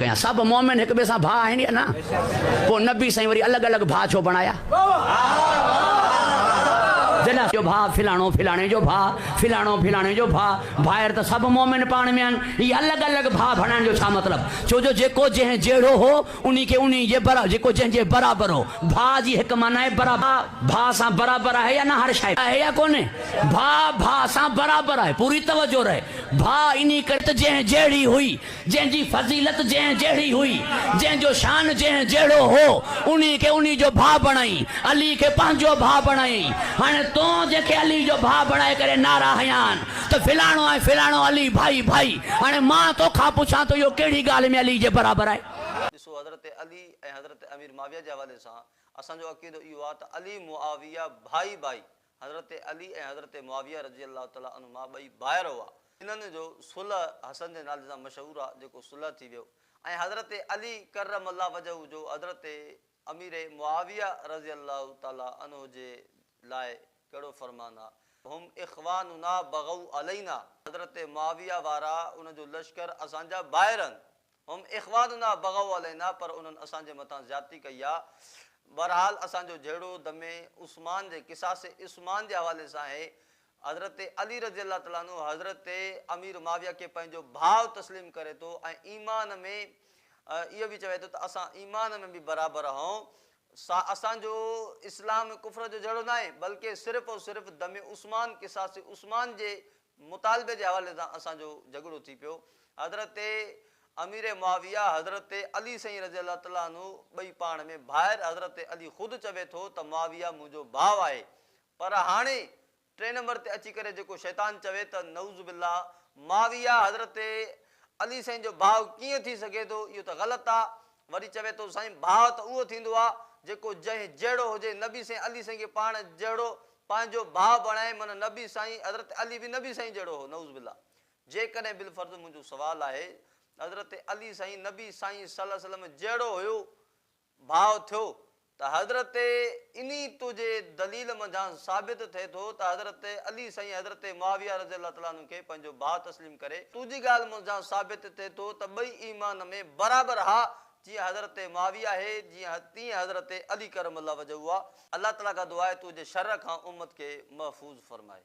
ڪيا سڀ مومن هڪ ٻئي سان ڀاء آهن يا نه پوء نبي سائين وري الڳ الڳ ڀاء ڇو بڻايا جڏهن جو ڀاء فلاڻو فلاڻي جو ڀاء فلاڻو فلاڻي جو ڀاء ڀائر ته سڀ مومن پاڻ ۾ آهن هي الڳ الڳ ڀاء بڻائڻ جو ڇا مطلب ڇو جو جيڪو جنهن جهڙو هو انهي کي انهي جي برابر، جيڪو جنهن جي برابر هو. ڀاء جي هڪ معنيٰ آهي برابر. ڀاء ڀاء سان برابر آهي يا نه هر شاعر. آهي يا ڪونهي. ڀاء ڀاء سان برابر آهي. پوري توجه رهي. ڀاء انهي ڪري ته جنهن جهڙي هئي. جنهن جي فضيلت جنهن جهڙي هئي. جنهن جو شان جنهن جهڙو هو. انهي کي انهي جو ڀاء بڻائين. علي کي پنهنجو ڀاء بڻائين. هاڻي تون جنهن کي علي جو ڀاء بڻائي ڪري نعرا هنيا آهن. ته فلاڻو ۽ فلاڻو علي ڀائي ڀائي هاڻي مان توکان پڇان ته اهو ڪهڙي ڳالهه ۾ علي جي برابر آهي؟ ڏسو حضرت علي ۽ حضرت امير معاويه جي حوالي سان اسان جو عقيدو اهو آهي ته علي معاويه ڀائي ڀائي حضرت علي ۽ حضرت معاويه رضي الله تعالٰي عنهما ٻئي ڀائر هئا، انهن جو صلح حسن جي نالي سان مشهور آهي جيڪو صلح ٿي ويو ۽ حضرت علي ڪرم الله وجهه جو حضرت امير معاويه رضي الله تعالٰي عنه جي لاء ڪهڙو فرمان آ. هم اخواننا بغوا علينا حضرت معاويه وارا انهن جو لشڪر اسان جا ڀائر آهن. هم اخواننا بغوا علينا پر انهن اسان جي مٿان زيادتي ڪئي آ. بهرحال اسان جو جهيڙو دم عثمان جي قصاص عثمان جي حوالي سان آهي. حضرت علي رضي الله تعالٰي عنه حضرت امير معاويه کي پنهنجو ڀاء تسليم ڪري ٿو ۽ ايمان ۾ اهو به چوي ٿو ته اسان ايمان ۾ به برابر آهون سا اسان جو اسلام ڪفر جو جهيڙو ناهي بلڪه صرف ۽ صرف دم عثمان قصاص عثمان جي مطالبي جي حوالي سان اسان جو جهڳڙو ٿي پيو حضرت امير معاويه حضرت علي سائين رضي الله تعالٰي عنه ٻئي پاڻ ۾ ڀائر حضرت علي خود چوي ٿو ته معاويه منهنجو ڀاء آهي پر هاڻي ٽئين نمبر تي اچي ڪري جيڪو شيطان چوي ته نعوذ بالله معاويه حضرت علي سائين جو ڀاء ڪيئن ٿي سگهي ٿو اهو ته غلط آ وري چوي ٿو سائين ڀاء ته اهو ٿيندو آ جيڪو جنهن جهڙو هجي نبي سائين علي سائين کي پاڻ جهڙو پنهنجو ڀاء بڻائي معنيٰ نبي سائين حضرت علي به نبي سائين جهڙو هو نعوذ بالله جيڪڏهن بالفرض منهنجو سوال آهي حضرت علي سائين نبي سائين صلعم جهڙو هيو ڀاء ٿيو ته حضرت انهي تو جي دليل منجهان ثابت ٿئي ٿو ته حضرت علي سائين حضرت معاويه رضي الله تعالٰي عنه کي پنهنجو ڀاء تسليم ڪري تو جي ڳالهه منجهان ثابت ٿئي ٿو ته ٻئي ايمان ۾ برابر ها جيئن حضرت معاويه اهي جيئن تيئن حضرت علي ڪرم الله وجهه هئا الله تعالٰي کان دعا آهي تو جي شر کان امت کي محفوظ فرمائي.